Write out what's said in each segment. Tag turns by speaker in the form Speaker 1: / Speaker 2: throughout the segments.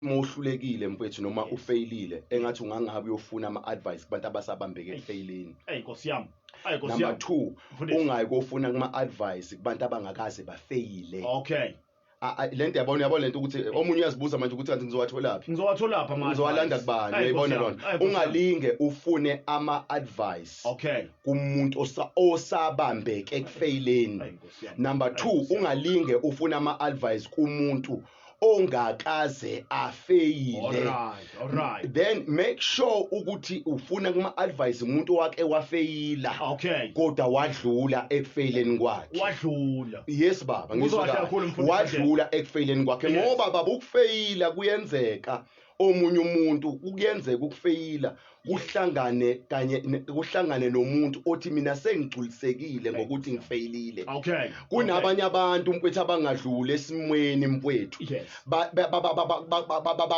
Speaker 1: uma uhlulekile mfethu noma ufeyilile engathi ungangabe uyofuna ama-advice kubantu abasabambeke ekufeyileni eyi nkosi yami ayi
Speaker 2: nkosi number yami two
Speaker 1: Mfundisi. ungayi kofuna kuma-advice kubantu abangakaze bafeyile okay
Speaker 2: A- a- le nto yabona
Speaker 1: yabona le nto ukuthi omunye uyazibuza manje ukuthi kanti ngizowatholaphi ngizowatholapha ama ngizowalanda
Speaker 2: advice. kubani Ayi,
Speaker 1: uyayibona Nkosi lona yami, ayi, Nkosi yami. ungalinge ufune ama-advice okay kumuntu osa- osabambeke ekufeyileni Ayi, Nkosi yami. number Ayi, two Nkosi yami. ungalinge ufune ama-advice kumuntu ongakaze afeyile Alright, alright.
Speaker 2: then make
Speaker 1: sure ukuthi ufuna kuma advise umuntu wake wafeyila Okay. kodwa wadlula ekufeyileni kwakhe Wadlula. yes baba Uzwa ngisho kahle kakhulu, kahle. mfundisi. wadlula ekufeyileni kwakhe Yes. ngoba baba ukufeyila kuyenzeka omunye umuntu kuyenzeka ukufeyila kuhlangane kanye kuhlangane nomuntu othi mina sengigculisekile ngokuthi ngifeyilile okay kunabanye abantu mfethu abangadluli esimweni mfethu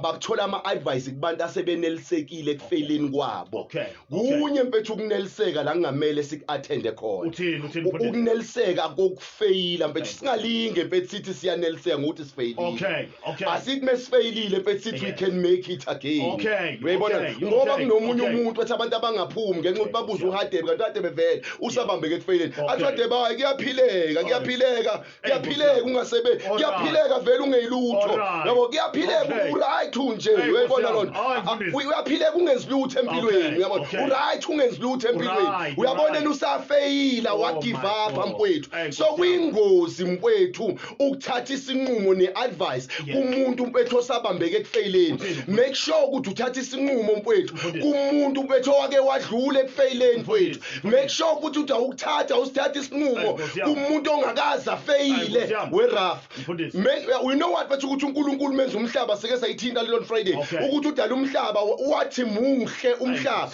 Speaker 1: bakuthola ama advice kubantu asebenelisekile ekufeyileni kwabo okay kunye mfethu ukuneliseka la kungamele siku-athende khona Uthini, uthini, U- mfundisi? ukuneliseka kokufeyila mfethu singalinge mfethu sithi siyaneliseka ngokuthi sifeyilile Okay, okay. asithi mesifeyilile mfethu sithi we Yes. can make it again Okay, uyayibona okay, ngoba okay, kunomunye okay. umuntu wathi abantu abangaphumi ngenxa yokuthi babuze uhadebe kanti uhadebe vele usabambeke ekufeyileni athi Okay. uhadebe hayi kuyaphileka kuyaphileka kuyaphileka ungasebenzi kuyaphileka vele ungeyilutho yabo kuyaphileka uright unje uyayibona lona uyaphileka ungenzi lutho empilweni uyabo uright ungenzi lutho empilweni uyabona yena usafeyila oh wagive up mfowethu so kuyingozi mfowethu ukuthatha isinqumo neadvice kumuntu mfowethu osabambeke ekufeyileni make sure ukuthi uthatha isinqumo mfowethu kumuntu mfowethu owake wadlula ekufeyileni mfowethu make sure ukuthi uthi awukuthatha usithatha isinqumo kumuntu ongakazi afeyile weraf uh, we know what bathi ukuthi unkulunkulu menza umhlaba sike sayithinta lelon friday ukuthi udala umhlaba wathi muhle umhlaba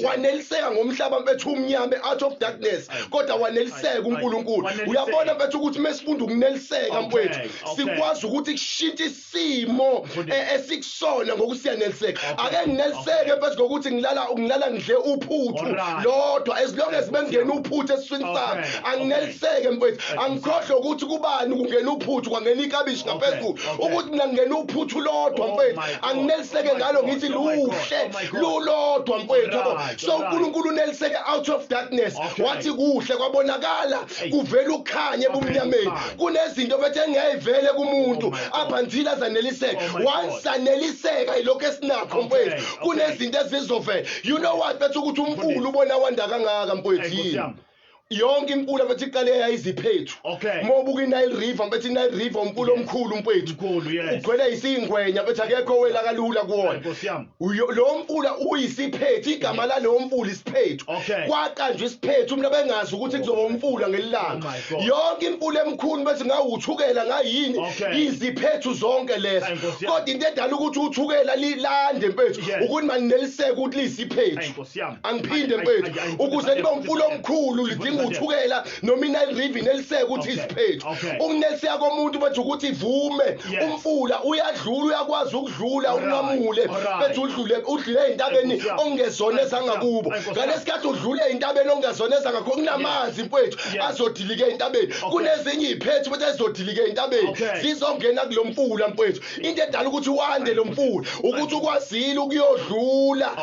Speaker 1: waneliseka ngomhlaba mfethu umnyama out of darkness kodwa waneliseka unkulunkulu uyabona mfethu ukuthi mesifunda ukuneliseka mfethu sikwazi ukuthi kushintshe isimo e- esikusona ngokusiyaneliseka ake ngineliseke phezu kokuthi ngilala ngilala ngidle uphuthu lodwa as long as bengena uphuthu esiswini sami angineliseke mfethu angikhohlwe ukuthi kubani kungena uphuthu kwangena ikabishi ngaphezulu ukuthi mina ngingena uphuthu lodwa oh mfethu angineliseke ngalo ngithi oh luhle oh lulodwa mfethu yabo so unkulunkulu uneliseke out of darkness wathi kuhle kwabonakala kuvela ukukhanya ebumnyameni kunezinto bethe engeyivele kumuntu up until azaneliseke once saneliseka ilokho esinakho mfowethu kunezinto ezizovela you know what bethu ukuthi umfulu ubona wanda kangaka mfowethu yini yonke imfula bethi iqale yayiziphethu okay. uma ubuka inile river bethi inile river umfula omkhulu mfowethu ugcwele yisiyingwenya bethi akekho wela kalula kuwona lowo mfula uyisiphethu igama lalowo mfula isiphethu okay. kwaqanjwa isiphethu umuntu abengazi ukuthi kuzoba umfula ngelilanga oh yonke imfula emkhulu bese ngawuthukela ngayini okay. iziphethu zonke lezo kodwa into edala ukuthi uthukela lilande mfethu yes. ukuthi manineliseke ukuthi lisiphethu angiphinde mfethu ukuze libe umfula omkhulu lidinga uthukela noma inile river ineliseka ukuthi okay. isiphethu okay. umneliseka komuntu bathi ukuthi ivume yes. umfula uyadlula uyakwazi ukudlula right. unqamule right. bethi udlule udlule entabeni ongezona ezangakubo ngalesikhathi udlule entabeni ongezona ezangakho kunamanzi yes. mfwethu yes. azodilika entabeni okay. kunezinye iziphethu futhi ezodilika entabeni okay. zizongena kulomfula mfwethu into edala ukuthi wande lo mfula ukuthi ukwazile ukuyodlula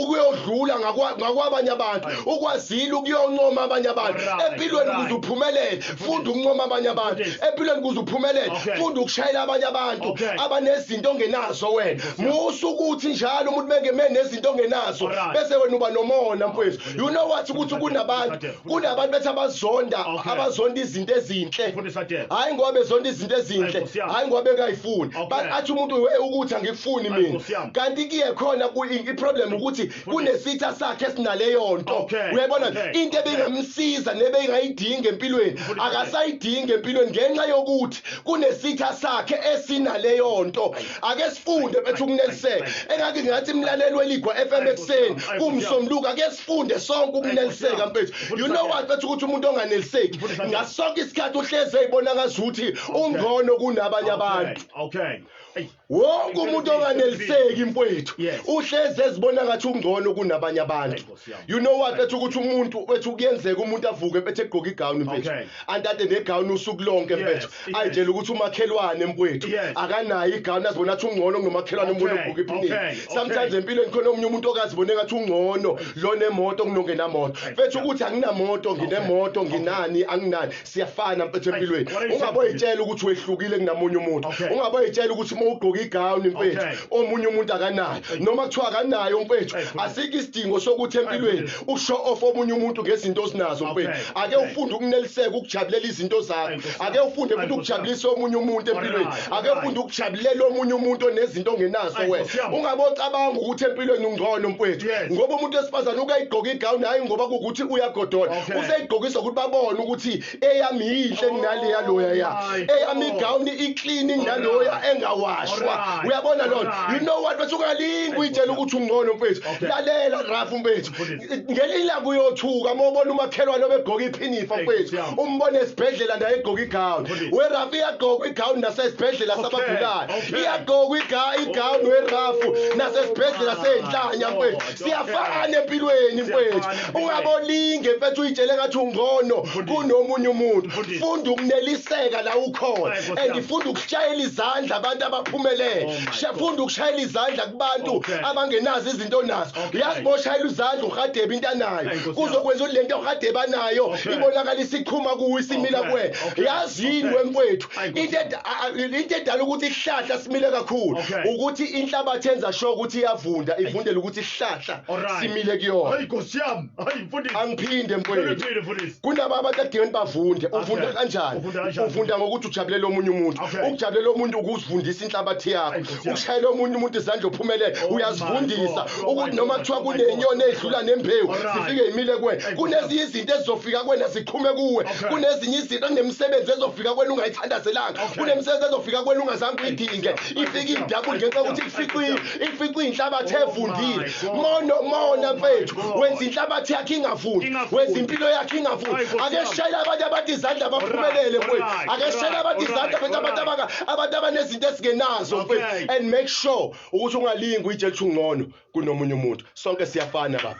Speaker 1: ukuyodlula ngakwabanye abantu ukwazile ukuyoncoma abanye abantu empilweni ukuze uphumelele funda ukuncoma abanye abantu empilweni ukuze uphumelele funda ukushayela abanye abantu abanezinto ongenazo wena musa ukuthi njalo umuntu beke menezinto ongenazo bese wena uba nomona mfowethu you know what ukuthi kunabantu kunabantu bethi abazonda Okay. abazonda izinto ezinhle Mfundisi Adele. hayi ngoba bezonda izinto Ay, ezinhle Nkosi yami. hayi ngoba bengayifuni Ba- Okay. athi umuntu "Hey, ukuthi angikufuni Ay, mina Nkosi yami. kanti kiye khona ku- i- iproblem ukuthi kunesitha sakhe esinaleyo nto Okay. uyayibona Okay. into Okay. ebingamsiza nebeyingayidingi empilweni Mfundisi Adele. akasayidingi empilweni ngenxa yokuthi kunesitha sakhe esinaleyo nto ake sifunde bethu ukuneliseka engake ngathi imlaleli weligwa FM ekseni kumsomluka ake sifunde sonke ukuneliseka mfethu you know what bethu ukuthi umuntu onganeliseki ngasonke isikhathi uhleze ibona ngazuthi ungcono kunabanye abantu okay wonke umuntu onganeliseki mfethu uhleze
Speaker 2: ezibona
Speaker 1: ngathi ungcono kunabanye abantu you know what bethu ukuthi umuntu bethu kuyenzeka umuntu avuke bethe egqoka igown mfethu andade negown usuku lonke mfethu ayitshela ukuthi
Speaker 2: umakhelwane
Speaker 1: mfethu akanayo igown
Speaker 2: azibona
Speaker 1: athi ungcono ngomakhelwane umuntu ogqoka iphinini
Speaker 2: sometimes
Speaker 1: empilweni
Speaker 2: khona
Speaker 1: omunye umuntu okazibona engathi ungcono lo nemoto kunongenamoto mfethu ukuthi anginamoto nginemoto nginani anginani siyafana mfethu empilweni ungaboyitshela ukuthi wehlukile kunamunye umuntu ungaboyitshela ukuthi uma ugqoka igawuni mfethu omunye umuntu akanayo noma kuthiwa akanayo mfethu asikho isidingo sokuthi empilweni ushow off omunye umuntu ngezinto osinazo mfethu ake ufunde ukuneliseka ukujabulela izinto zakho ake ufunde futhi ukujabulisa omunye umuntu empilweni ake ufunde ukujabulela omunye umuntu onezinto ongenazo wena ungabocabanga ukuthi empilweni ungcono mfowethu ngoba umuntu wesifazane ukayigqoka igawuni hhayi ngoba kuwukuthi uyagodola useyigqokisa ukuthi babone ukuthi eyami yinhle kunale yaloya ya oh, eyami oh. igawuni iklini kunaloya engawashwa uyabona lona you know what bese ungalingi uyitshela ukuthi ungcono mfowethu lalela rafu mfowethu ngelinye ilanga uyothuka uma ubona umakhelwane obegqoka iphinifa mfethu umbone esibhedlela naye egqoka igawuni werafu iyagqokwa igawuni nasesibhedlela sabagulayo iyagqokwa igawuni werafu nasesibhedlela seyinhlanya mfethu siyafana empilweni mfethu ungabolinge mfethu uyitshele ngathi ungono kunomunye umuntu funda ukuneliseka la ukhona and funda ukushayela izandla abantu abaphumelele funda ukushayela izandla kubantu abangenazo izinto onazo uyaziboshayela uzandla uRhadebe into anayo kuzokwenza ukuthi lento uRhadebe anayo ibonakala isiqhuma kuwe isimila kuwe yazi yini wemfwethu into into edala ukuthi isihlahla simile kakhulu ukuthi inhlabathi yenza sho ukuthi iyavunda ivundela ukuthi isihlahla simile kuyona hayi nkosi yami
Speaker 2: hayi mfundisi angiphinde mfwethu
Speaker 1: kunaba abantu adingeni bavunde uvunda kanjani uvunda ngokuthi ujabulela omunye umuntu ukujabulela omuntu ukuzivundisa inhlabathi yakho ushayele omunye umuntu izandla uphumelele oh uyazifundisa oh ukuthi noma kuthiwa kunenyoni edlula nembewu zifike imile kuwe kunezinye izinto ezizofika kuwena ziqhume kuwe kunezinye izinto nemisebenzi ezofika kuwena ungayithandazelanga kunemisebenzi ezofika kuwena ungazange uyidinge ifike idabule ngenxa yokuthi ifiqile ifiqile inhlabathi oh evundile mono mona mfethu wenza inhlabathi yakhe ingavundi wenza impilo yakhe ingavundi ake shayela abanye abantu izandla baphumelele mfethu ake shayela abantu izandla mfethu abantu abaka abantu abanezinto ezingenazo Okay. mfethu and make sure ukuthi ungalingi uyitshela ukuthi ungcono kunomunye umuntu sonke siyafana baba